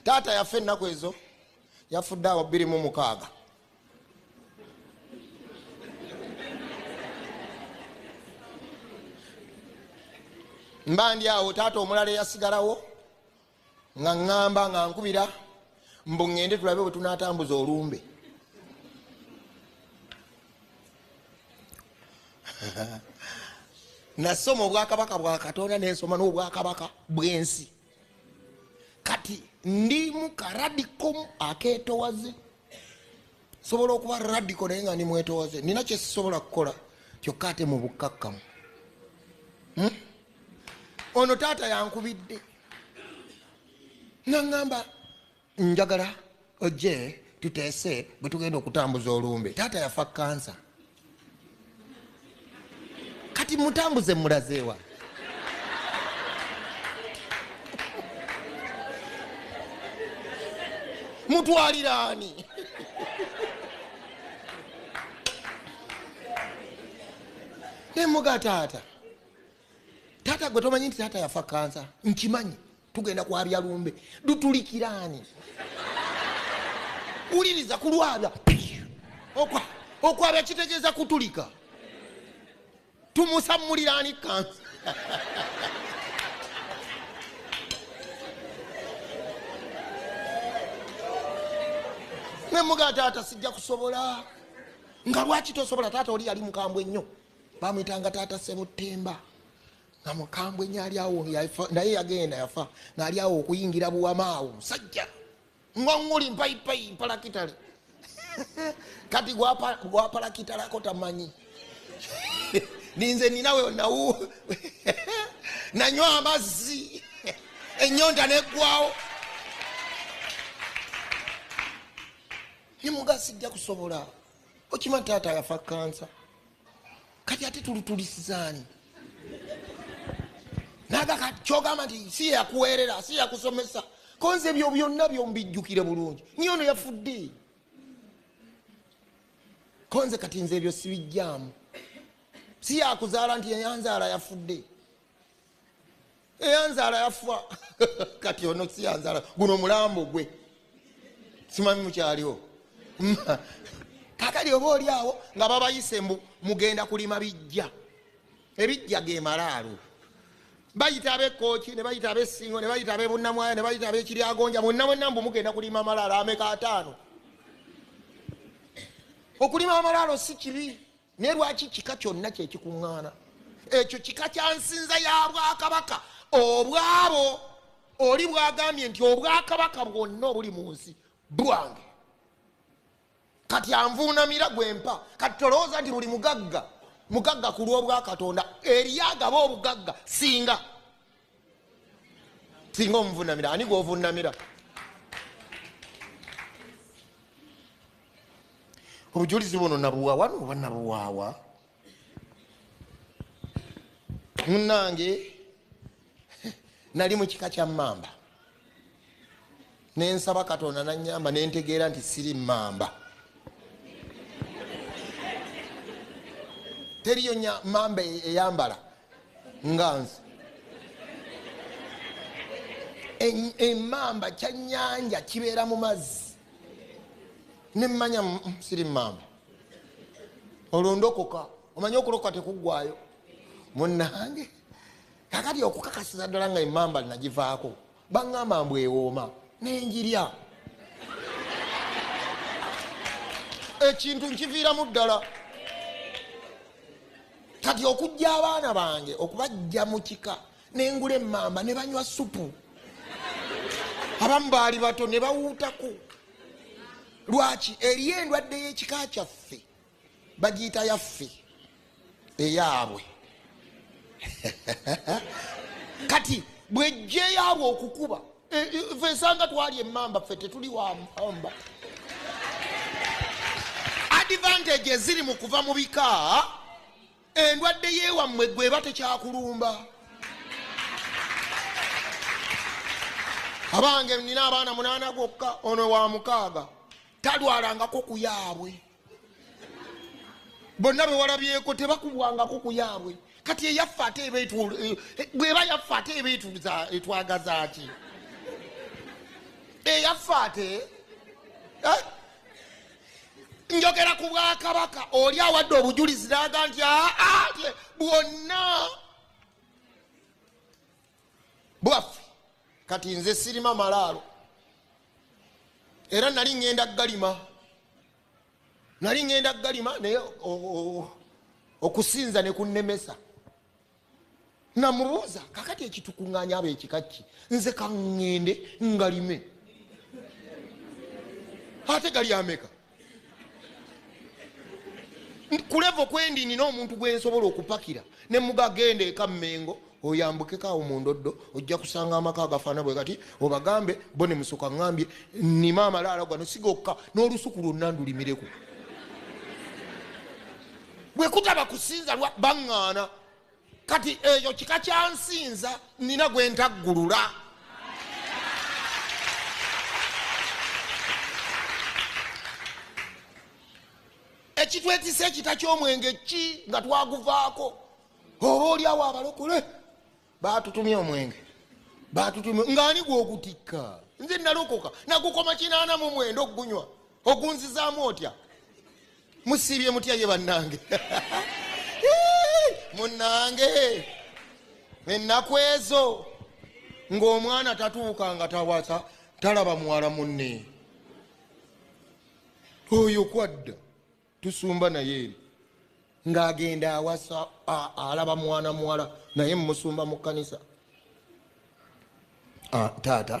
taata yafa ennaku ezo yafudde awo bbiri mu mukaaga mba ndi awo taata omulala eyasigalawo nga ŋŋamba nga nkubira mbu ŋŋende tulabe bwe tunaatambuza olumbe nasoma obwakabaka bwa katonda nensoma n'obwakabaka bw'ensi kati ndi mu karadikomu akeetowaze sobola okuba radiko naye nga ndi mwetowaze nina kyesisobola kukola kyokka ate mu bukkakkamu hmm? ono taata yankubidde naŋŋamba njagala ojje tuteese bwe tugenda okutambuza olumbe taata yafa kansa kati mutambuze mulazeewa mutwaliraani nemuga taata taata gwe tomanyi nti taata yafa kansa nkimanyi tugenda kwabya lumbe dutulikiraani wuliriza kulwabya okwabya kitegeeza kutulika tumusammuliraani kansa nemuga taata sijja kusobola nga lwaki tosobola taata oli yali mukambwe nnyo bamuyitanga taata sebuttemba nga mukambwe nyo ali awo naye yagenda yafa ngaali awo okuyingira buwama awo musajja ngonguli mpaipai mpalakitale kati gwapalakitalako tamanyi ninze ninawe nawu nanywa amazzi enyonta neggwawo nimugasi jja kusobola okima taata yafa kansa kati ate tulitulisizaani nagaka kyogamba nti si yakuweerera si yakusomesa konze ebyo byonna byombijjukire bulungi niye ono yafudde konze kati nze ebyo sibijjaamu si yakuzaala nti yanzaala yafudde eyanzaala yafa kati ono siyanzaala guno mulambo gwe simanyi mukyaliwo kakali oba oli awo nga babayise mbu mugenda kulima bijja ebijja gemalaalo bayita abekooki nebayita abesingo nebayita abebunamwaya nebayita abekiryagonja mwonna mwenna mbu mugenda kulima amalaalo ameka ataano okulima amalaalo si kibi Naye lwaki kika kyonna kye kikuŋŋaana? Ekyo kika kya nsinza ya bwakabaka obwabo. Oli bwagambye nti obwakabaka bwonna obuli mu nsi bwange, kati anvuunamira gwe mpa. Kati tolowooza nti buli mugagga mugagga ku lw'obwakatonda, eriyo agaba obugagga singa singa omuvunamira ani gwovunamira obujulizi buno nabuwawa noba nabuwawa munange nali mukika kya mamba nensaba katonda nanyamba nentegeera nti siri mamba teriyo mamba e-, eyambala nga nze emamba kyanyanja kibeera mu mazzi nemanya mm, mm, siri mamba olwo ndokoka omanye okulokoka tekuggwayo munange kakati okukakasiza ddala nga emamba linagivaako baŋŋamba mbu ewooma nenjirya ekintu nkiviiramu ddala kati okujja abaana bange okubajja mu kika nengula emamba ne banywa supu abamu baali bato ne bawuutaku lwaki eriyo endwadde y'ekika kyaffe bagiyita yaffe eyaabwe kati bwejja eyaabwe okukuba e, e, fe esanga twali emamba ffe tetuli wamba advantage eziri mu kuva mu bika endwadde yewammwe gweba tekyakulumba abange nina abaana munana gwokka ono wa mukaaga talwalangako kuyaabwe bonna bewalabyeko tebakubwangako ku yaabwe kati eyaffe ate eba eh, eh, bweba yaffe ate eba etwagazaki eyaffe ate eh? njogera ku bwakabaka oli awadde obujulizi naga nti aa ah, ah, bwonna bwaffe kati nze sirima malaalo era nali ŋŋenda galima nali ŋŋenda galima naye okusinza ne kunnemesa namubuuza kakati ekitukuŋŋanya aba ekikakki nze kaŋŋende ngalime ate gali ameka kulevo kwendi nina omuntu gwensobola okupakira nemugagenda eka mengo oyambukeko awo mundoddo ojja kusanga amaka agafaana bwe kati obagambe bo ne musoka ŋambye nima amalaala gano sigokka n'olusuku lwonna ndulimireko bwe kutaba kusinza lwa baŋŋaana kati eyo kika kyansinza nina gwentaggulula ekitwetisa ekita kyomwenge ki nga twaguvaako oba olyawo abalokole batutumye omwenge batutumye ngaani gwogutikka nze nalokoka nagukoma kinaana mu mwenda okugunywa ogunzizaamu otya musiibye mutya ye bannange munnange ennaku ezo ng'omwana tatuuka nga tawasa talaba muwala munne oyo kwadda tusumba naye eri ng'agenda awasa alaba mwana muwala naye mumusumba mu kkanisa ah, taata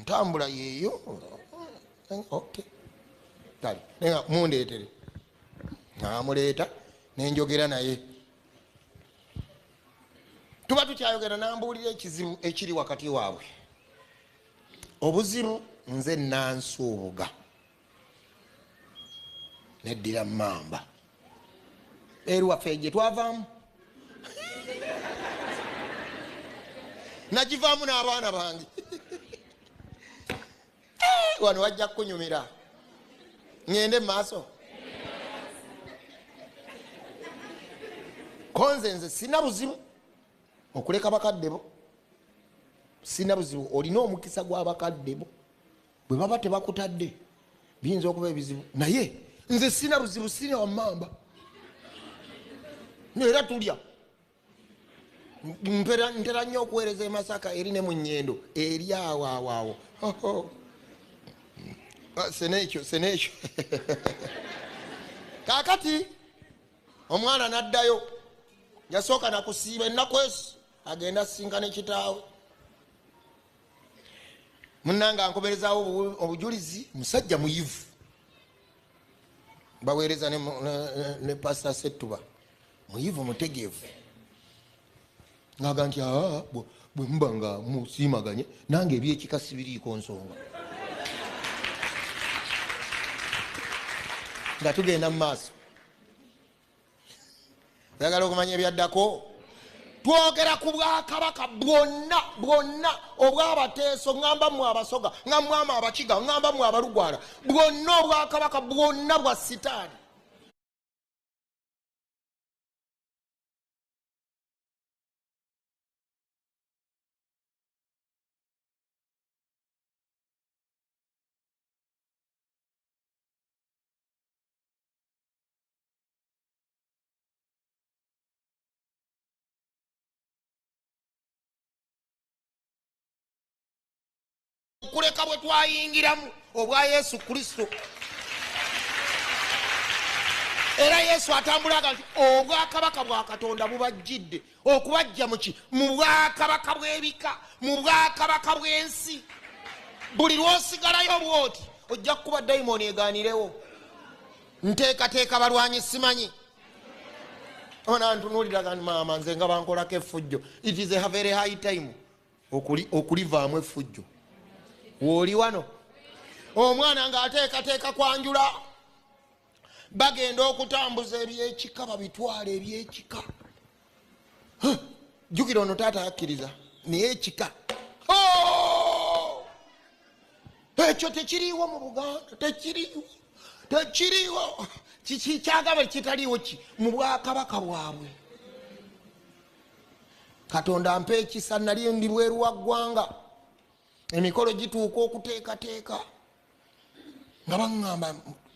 ntambula yeeyo kale naye nga mundeetere namuleeta nenjogera naye tuba tukyayogera nambuulira ekizibu ekiri wakati waabwe obuzibu nze nansuubuga neddira mamba eruwaffe gye twavaamu nagivaamu n'abaana bange eh, wano wajja kukunyumira ŋende mu maaso konze nze sina buzibu okuleka bakadde bo sina buzibu olina omukisa gw'abakadde bo bwe baba tebakutadde biyinza okuba ebizibu naye nze sina buzibu sina wamamba era tulya ntera nnyo okuweereza emasaka eri ne mu nyendo eri awawaawo ah, senekyo senekyo kakati omwana naddayo yasooka nakusiiba ennaku ezo agenda asinkana ekitaawe munange ankomerezawo obujulizi musajja muyivu baweereza ne, ne, ne pasita settuba muyivu mutegeevu ngaga nti ah, bwemuba nga musiimaganye nange ebyekika sibiriiko nsonga nga tugenda mu maaso oyagala okumanya ebyaddako twogera ku bwakabaka bwonna bwonna obwabateeso ŋamba mu abasoga nga mwama abakiga ŋamba mu abalugwala bwonna obwakabaka bwonna bwa sitaani okuleka bwe twayingiramu obwa yesu kristo era yesu atambulaga nti obwakabaka bwa katonda bubajjidde okubajja muki mu bwakabaka bw'ebika mu bwakabaka bw'ensi buli lwosigalayo bwoti ojja kukuba dayimooni eganirewo nteekateeka balwanyi simanyi ona ntunuulira gani maama nze nga bankolako effujjo it is a very high time okulivaamu effujjo wooli wano omwana ng'ateekateeka kwanjula bagenda okutambuza ebyekika babitwala ebyekika jjukira ono taata yakkiriza naye ekika ekyo tekiriiwo mu buganda tekiriiwo tekiriiwo kikyagaba ekitaliiwo ki mu bwakabaka bwabwe katonda mpa ekisa nali ndi bweru wa ggwanga emikolo gituuka okuteekateeka nga baŋŋamba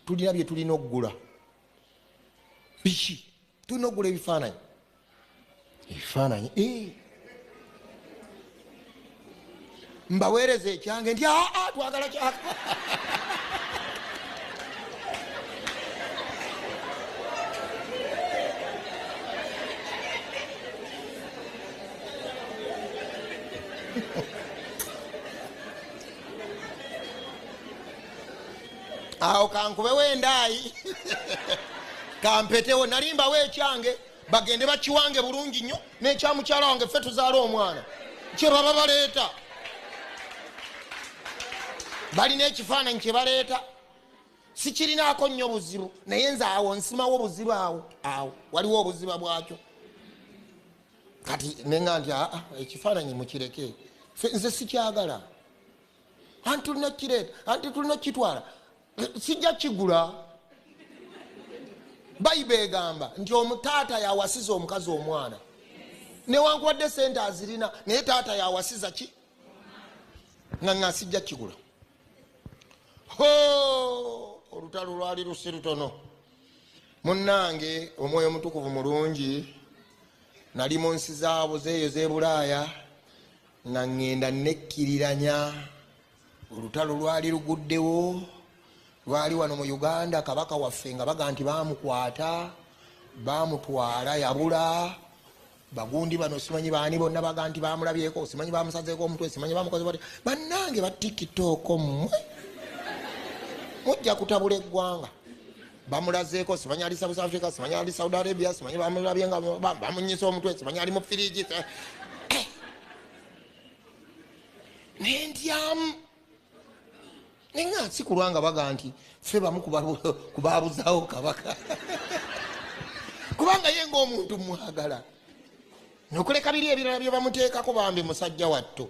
tulina bye tulina okugula biki tulina okugula ebifaananyi ebifaananyi eh. mbaweereza ekyange nti aa ah, ah, twagala kyaka awo kankubewo endaayi kampetewo nalimbawo ekyange bagende bakiwange bulungi nnyo nekyamukyala wange ffe tuzaala omwana kyebaba baleeta balina ekifaananyi kyebaleeta sikirinaako nnyo buzibu naye nze awo nsimawo buzibu awo awo waliwo obuziba bwakyo kati nenga nti aa ekifaananyi mukireke nze sikyagala anti tulina kireeta anti tulina okukitwala sijja kigula bayiba egamba nti omutaata yawasiza omukazi omwana newankubadde sente azirina naye taata yawasiza ki nga nga sijja kigula olutalo lwali lusi lutono munnange omwoyo omutukuvu mulungi nali mu nsi zaabo zeeyo zebulaaya nga ŋŋenda nekkiriranya olutalo lwali luguddewo lwali wano mu uganda kabaka waffe nga baga nti bamukwata bamutwala yabula bagundi bano simanyi baani bonna baga nti bamulabyeko simanyi bamusazeeko omutwe simanyi bamukoze bat bannange batikitooko mmwe mujja kutabula eggwanga bamulazeeko simanyi ali south africa simanyi ali saudi arabia simanyi bamulabye nga bamunyisa omutwe simanyi ali mu firiji eh. nentyamu naye nga nsi kulwa nga baga nti fe bamu kubabuzawo kabaka kubanga ye ngaomuntu mwagala nokuleka biri ebirala byebamuteekako bambi musajja watto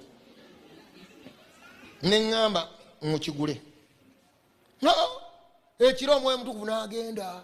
neŋŋamba mukigule ekiro omwoyo mutukuvu n'agenda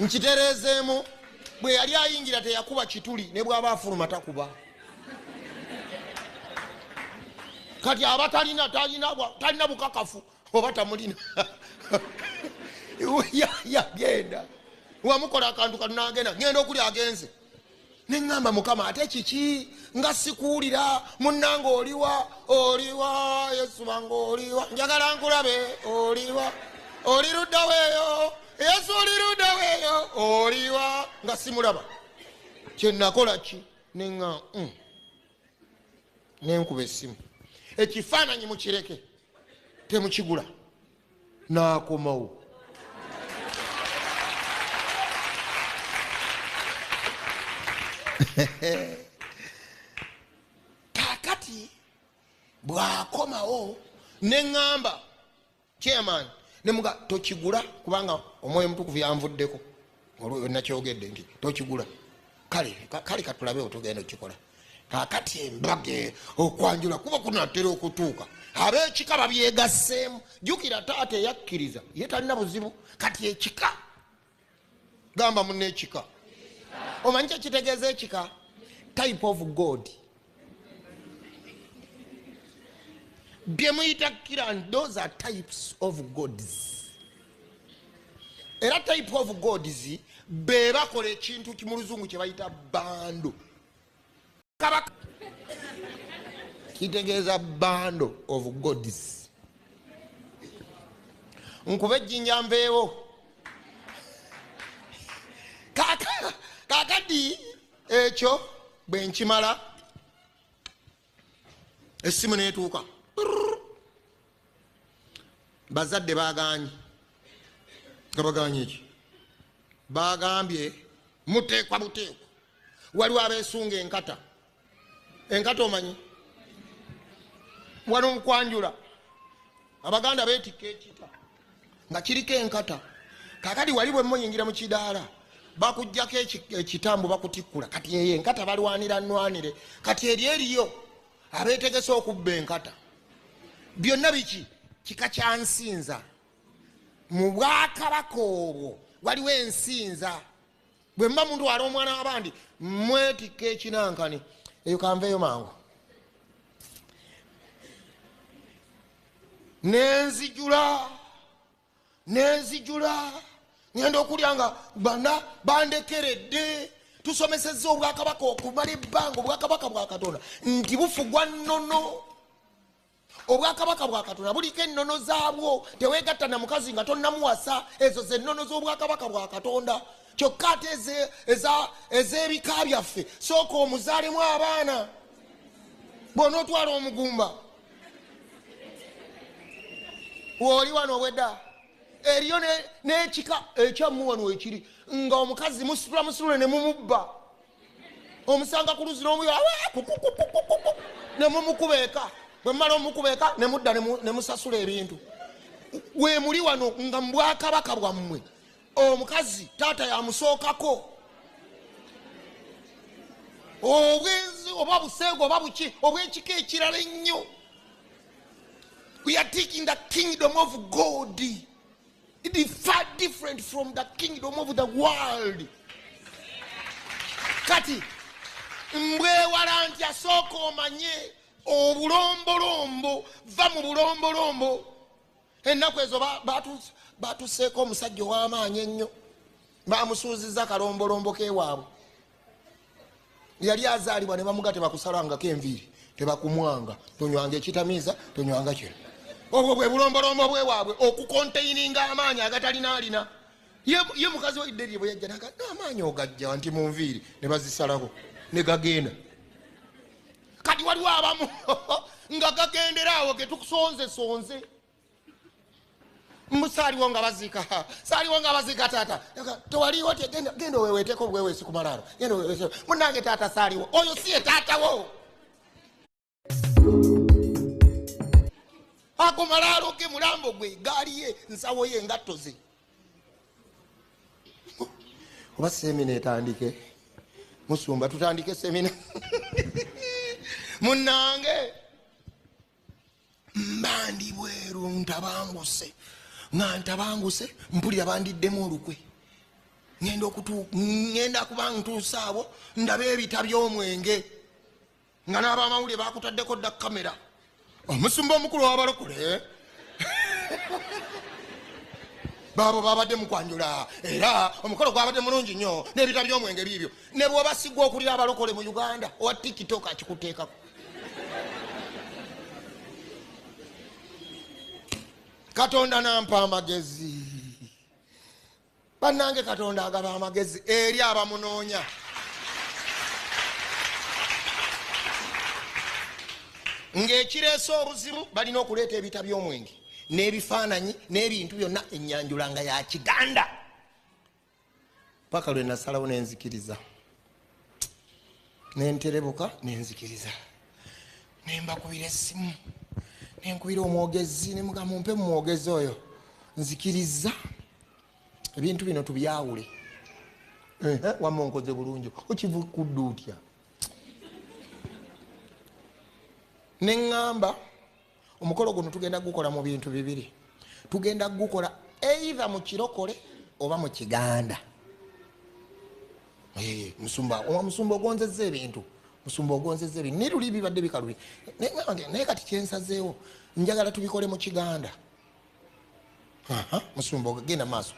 nkitereezeemu bwe yali ayingira teyakuba kituli ne bw'aba afuluma takuba kati aba talina talina bukakafu oba tamulina yagenda wamukola akantu kanagenda ngenda okuli agenze neŋŋamba mukama ate kiki nga sikuwulira munnanga oliwa oliwa yesu wange oliwa njagala nkulabe oliwa oli ludda weeyo yesu oli ludda weeyo oliwa nga simulaba kyenakola ki neŋa mm, nenkuba essimu ekifaananyi mukireke temukigula n'akomawo kakati bw'akomawo ne ŋŋamba chairman ne muga tokigula kubanga omwoyo mutukuvu yanvuddeko olwoyo nakyogedde nti tokigula kale kale katulabe otugenda okikola kakati embaga e, okwanjula kuba kunatera okutuuka abekika babyegasseemu jukira taata eyakkiriza ye talina buzibu kati ekika gamba munaekika omanyi kyekitegeeza ekika type of god bye muyita kira those are types of gods era type of gods be bakola ekintu mu luzungu kye bayita bando kabaka kitegeeza bando of gods nkuba ejjinja nveewo kakadi ekyo bwe nkimala essimu neetuuka bazadde bagaanyi nga bagaanyi eki bagambye muteekwa buteekwa waliwo abeesunga enkata enkata omanyi waliwo mukwanjula abaganda beetikka ekita nga kiriko enkata kakati wali bwe muyingira mu kidaala bakujjako ekitambo bakutikkula kati eyo enkata balwanira nwanire kati eri eriyo abeetegese okubba enkata byonna biki kika kya nsinza mu bwakabaka obwo waliwo ensinza bwe muba mutwala omwana wabandi mwetikka ekinankani eyo kanveeyo mangu nenzijula nenzijula ngenda okulya nga bana bandekeredde tusomeseza obwakabaka okumala ebbanga obwakabaka bwa katonda nti bufugwa nnono obwakabaka bwa katonda buliko ennono zaabwo teweegatta na mukazi nga tonnamuwasa ezo zennono z'obwakabaka bwa katonda kyokka ate ez'ebika byaffe sooka omuzaalemu abaana bwona otwala omugumba wooli wano obwedda eriyo n'ekika ekyamuwano ekiri nga omukazi musitula musitule ne mumubba omusanga ku luzi n'omuyo ne mumukuba eka bwe mumala omukuba eka ne mudda ne musasula ebintu we muli wano nga mu bwakabaka bwammwe omukazi taata yamusookako obwenzi oba buseego oba buki obwekika ekirala ennyo we are taking the kingdom of god It is far different from the kingdom of the world. Kati mbwewala nti asooka omanye obulombolombo va mu bulombolombo ennaku ezo batuseeko omusajja ow'amaanyi ennyo bamusuuziza kalombolombo kewaabwe yali azaalibwa ne bamuga tebakusalangako enviiri tebakumwanga tonywanga ekitamiiza tonywanga kino obwo bwe bulombolombo bwewaabwe okukonteininga amaanyi agatalina alina ye mukazi waidde lye bwe yajja naga n'amaanyi ogajja nti mu nviiri ne bazisalako ne gagenda kati waliwo abamu nga gagendera awo getukusonze sonze mbu saaliwo nga baziika saaliwo nga baziika taata tewaliwo ti genda oweweteeko obuweweesi ku malaalo genda oweweese munange taata saaliwo oyo si ye taatawo ako malaalo ge mulambo gwe gaali ye nsawo ye engatto ze oba semina etandike musumba tutandike semina munange mbandi bweru ntabanguse nga ntabanguse mpulira bandiddemu olukwe ngenda okutu ngenda kuba ntuusa abo ndaba ebita by'omwenge nga n'abamawulire bakutaddeko dda kamera omusumba omukulu wabalokole baabo babadde mukwanjula era omukolo gwabadde mulungi nnyo n'ebita by'omwenge biibyo ne bwobasigwa okulira abalokole mu uganda owa tiktok akikuteekako katonda nampa amagezi bannange katonda agaba amagezi eri abamunoonya ng'ekireese obuzibu balina okuleeta ebita by'omwenge n'ebifaananyi n'ebintu byonna enyanjula nga ya kiganda paka lwe nasalawo nenzikiriza nenterebuka nenzikiriza nembakubira esimu nenkubira omwogezi nemugamba mpe mumwogezi oyo nzikiriza ebintu bino tubyawule wama onkoze bulungi okivukudda otya neŋamba omukolo guno tugenda gukola mu bintu bibiri tugenda gukola eitha mu kirokole oba mu kiganda eh, musumba omusumba ogonzeza ebintu musumba ogonzeza ebintu naye luli bibadde bikalubye naye kati kyensazeewo njagala tubikole mu kiganda musumba ogenda maaso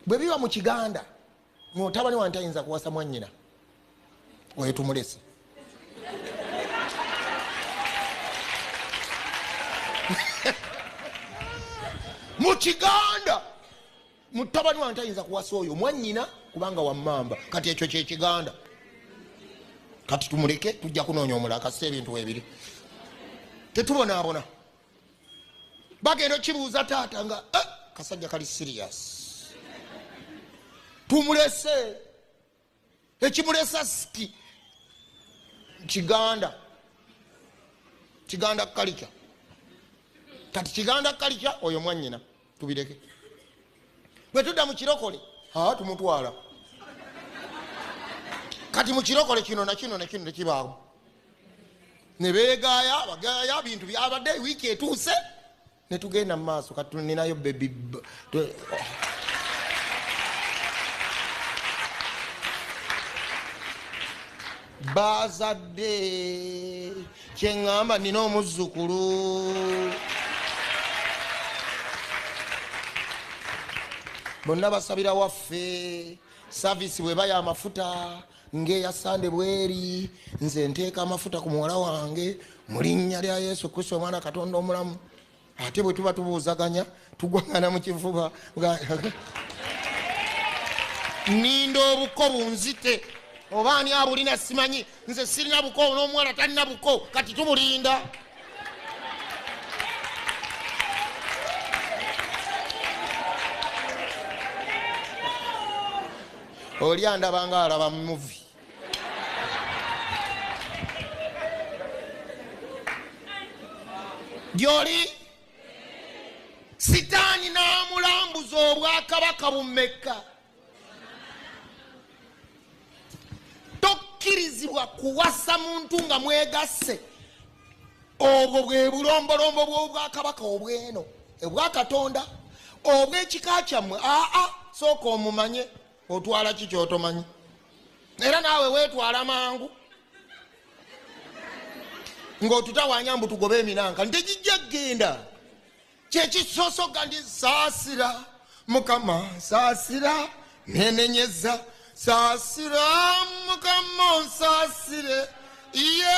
bwe biba mu kiganda mutabani wange tayinza kuwasa mwanyina oyo tumulese mu kiganda mutabani wange tayinza kuwasa oyo mwanyina kubanga wamamba kati ekyo kyekiganda kati tumuleke tujja kunoonya omulala kasita ebintu webiri tetubonaabona bagenda okibuuza taata nga eh, kasajja kali sirias tumulese ekimulesa siki kiganda kiganda kalica kati kiganda kalica oyo mwanyina tubireke bwe tudda mu kirokole aa tumutwala kati mu kirokole kino nakino nakino tekibaawo ne beegaaya bagaaya bintu byabadde wiiki etuuse ne tugenda mu maaso kati tuninayo bebi Bazadde kyeŋŋamba nina omuzzukulu. Bonna basabira waffe saavisi bweba ya mafuta ng'eya sande bweri nze nteeka amafuta ku muwala wange mu linnya lya Yesu Kristo omwana Katonda omulamu. ate bwe tuba tubuuzaganya tugwangana mu kifuba ninda obuko bunzite oba ani abulina simanyi nze sirina buko n'omuwala talina buko kati tubulinda oli andabanga alaba muvi gyoli sitaani n'amulambuza obwakabaka bumekka tokkirizibwa kuwasa muntu nga mwegasse obwo bwe bulombolombo bw'obwakabaka obweno obwakatonda obw'ekika kyammwe aa sooka omumanye otwala ki kyotomanyi era naawe weetwala mangu ng'otutawanya mbu tugobe eminanka nti gijja kugenda kyekisosoga ndi saasira mukama saasira nenenyeza saasira mukama onsaasire ye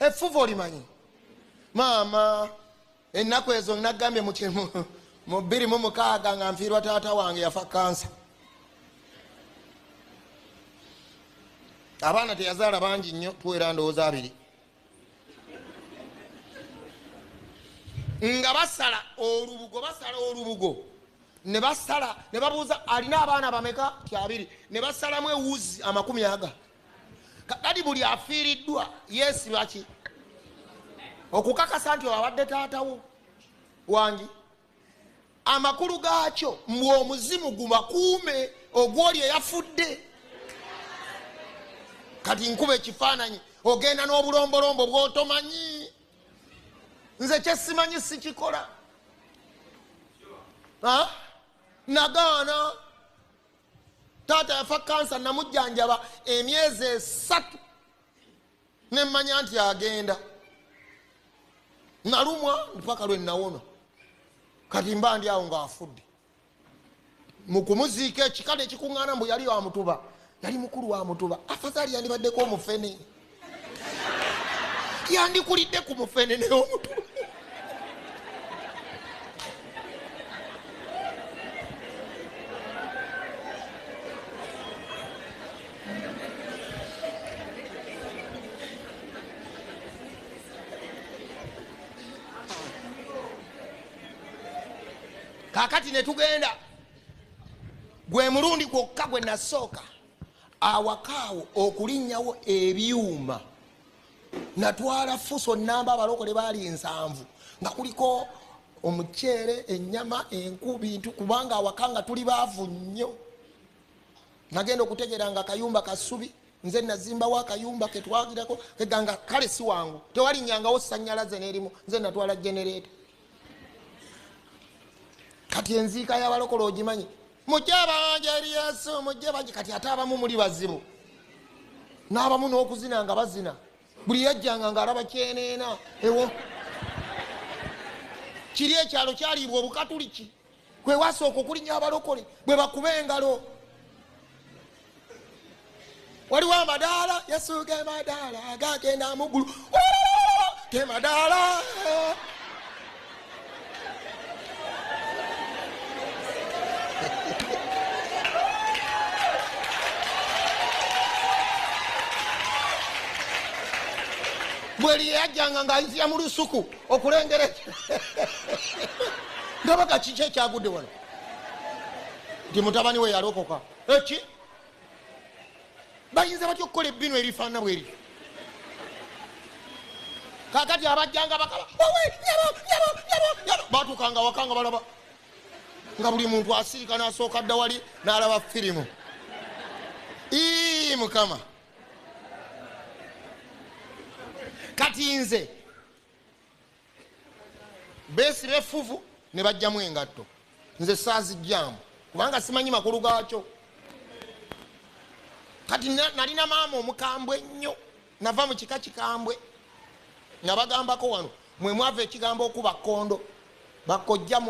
effuvu olimanyi maama ennaku ezo nagambye mu bbiri mu mukaaga nga nfiirwa taata wange yafa kansa abaana teyazaala bangi nnyo tuwera ndowooza abiri nga basala olubugo basala olubugo ne basala ne babuuza alina abaana bameka ti abiri ne basalamu ewuzi amakumi aga kakati buli afiiriddwa yeesibaki okukakasa nti abadde taatawo wangi amakulu gaakyo mbu omuzimu gubakuume ogwoli eyafudde kati nkuba ekifaananyi ogenda n'obulombolombo bwotomanyi nze kyesimanyi sikikola nagaana taata yafa kansa namujjanjaba emyezi esatu nemmanya nti agenda nalumwa mpaka lwe nawona kati mba ndi awo ngaafudde mukumuziika ekikale ekikuŋŋaana mbu yali wamutuba yali mukulu wamutuba afazaali yandibaddeko omufene yandikulidde ku mufenene omutu kakati netugenda gwe mulundi gwokka gwe nasooka awaka awo okulinnyawo ebyuma natwala fuso namba abalokole baali ensanvu nga kuliko omuceere enyama enku bintu kubanga awaka nga tuli baavu nnyo nagenda okutegeera nga kayumba kasubi nze nazimbawo akayumba ketwagirako eganga kale si wangu tewalinyangawo sanyalaze nerimu nze natwala genereeta kati enziika yabalokole ogimanyi mujje abanja eri yesu mujje bangi kati ate abamu muli bazibu n'abamu n'okuzina nga bazina buli yajjanga nga alaba kyeneena ewo kiri ekyalo kyaliibwa obukatuliki kwewasooka okulinya abalokole bwe bakuba engalo waliwo amadaala yesu gemadaala gagenda muggulu gemadaala bweli yeyajjanga ngaayinzira mu lusuku okulengera ndabaka kiki ekyagudde wano nti mutabani we yalokoka eki bayinza batya okukola ebbinu erifaana bweri kakati abajjanga bakaba owe nyabo nyabo nyabo nyabo batuukanga waka nga balaba nga buli muntu asiika nasooka dda wali nalaba firimu ii mukama kati nze beesiba effuvu ne bajjamu engatto nze saazijjamu kubanga simanyi makulu gaakyo kati nalina maama omukambwe ennyo nava mu kika kikambwe nga bagambako wano mwe mwava ekigambo okuba kkondo bakojja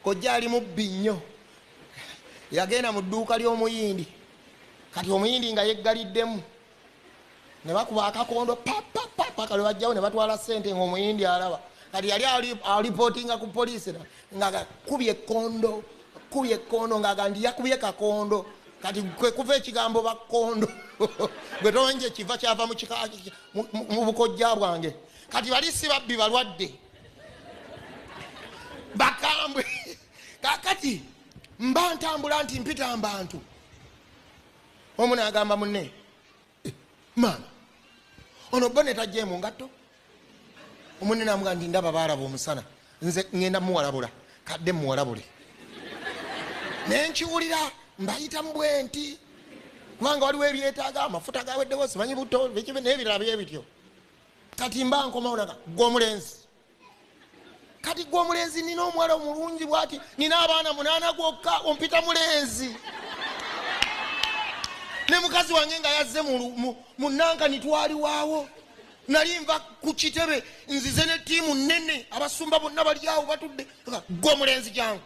kojja ali mubbi nnyo yagenda mu dduuka ly'omuyindi kati omuyindi nga yeggaliddemu ne bakuba akakondo papapapa kale bajjawo ne batwala sente ngaomuyindi alaba kati yali alipotinga ku polisi nga akubye ekondo akubye ekondo ngaaga ndi yakubye kakondo kati kwekuva ekigambo bakondo gwe tomanyi kiva kyava mu bukojja bwange kati bali si babbi balwadde bakambwe kakati mba ntambula nti mpita mbantu omu nagamba munne eh, maama ono bone tajemu ngatto omunne namuga nti ndaba baalaba omusana nze ngenda muwalabula kadde muwalabule nenkiwulira mbayita mubwenti kubanga waliwo ebyetaaga amafuta gaweddewo simanyi buto nebirala byebityo kati mba nkomawo naga gwe omulenzi kati gwe omulenzi nina omuwala omulungi bwati nina abaana munaana gwokka ompita mulenzi ne mukazi wange nga yazze mu nanka nitwaliwaawo nali nva ku kitebe nzize ne tiimu nene abasumba bonna baliawo batudde gwe omulenzi jangu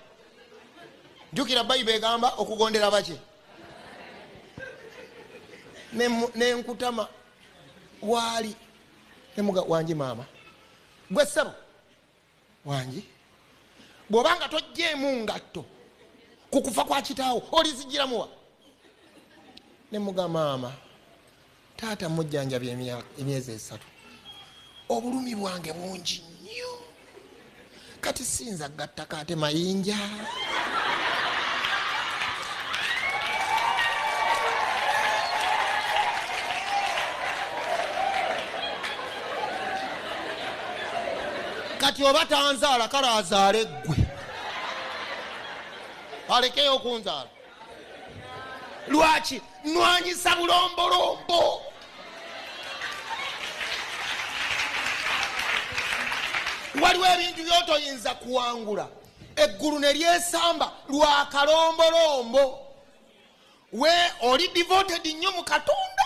jukira bayiba egamba okugondera baki nenkutama waali nemuga wangi maama gwe ssebo wangi bwoba nga tojjeemu ngatto ku kufa kwa kitaawo olizijiramuwa nemuga maama taata mujjanjabya emyezi esatu obulumi bwange bungi nnyo kati sinza gattaka ate mayinja kati oba tanzaala kale azaale ggwe alekeyo okunzaala lwaki nwanyisa bulombolombo waliwo ebintu byotoyinza kuwangula eggulu ne lyesamba lwa kalombolombo we oli devoted nnyo mu katonda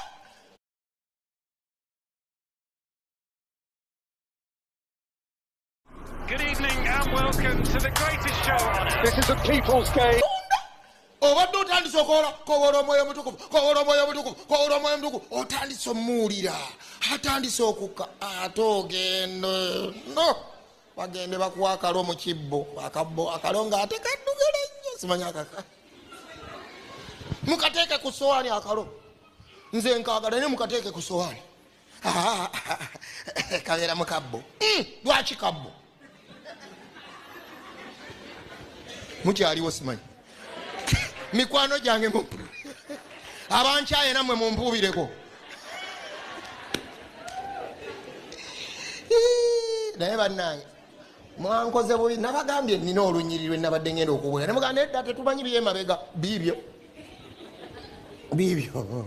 Good evening and welcome to the greatest show on earth. This is a people's game. obadde otandise okola kowola omwoyo omutukuvu kowola omwoyo omutukuvu kowola omwoyo omutukuvu otandise omuwulira atandise okukka ate ogende no bagende bakuwa akalo mu kibbo akabbo akalo nga ate kaddugala nnyo simanya kaka mukateeke ku sowaani akalo nze nkagala ne mukateeke ku sowaani kabeera mu kabbo hmm, lwaki kabbo mukyaliwo simanyi mikwano gyange abankyaye namwe mumpuubireko naye bannange mwankoze bubi nabagambye nina olunyiri lwe nabadde ngenda okubwera nemuganda edda tetumanyi byemabega biibyo biibyo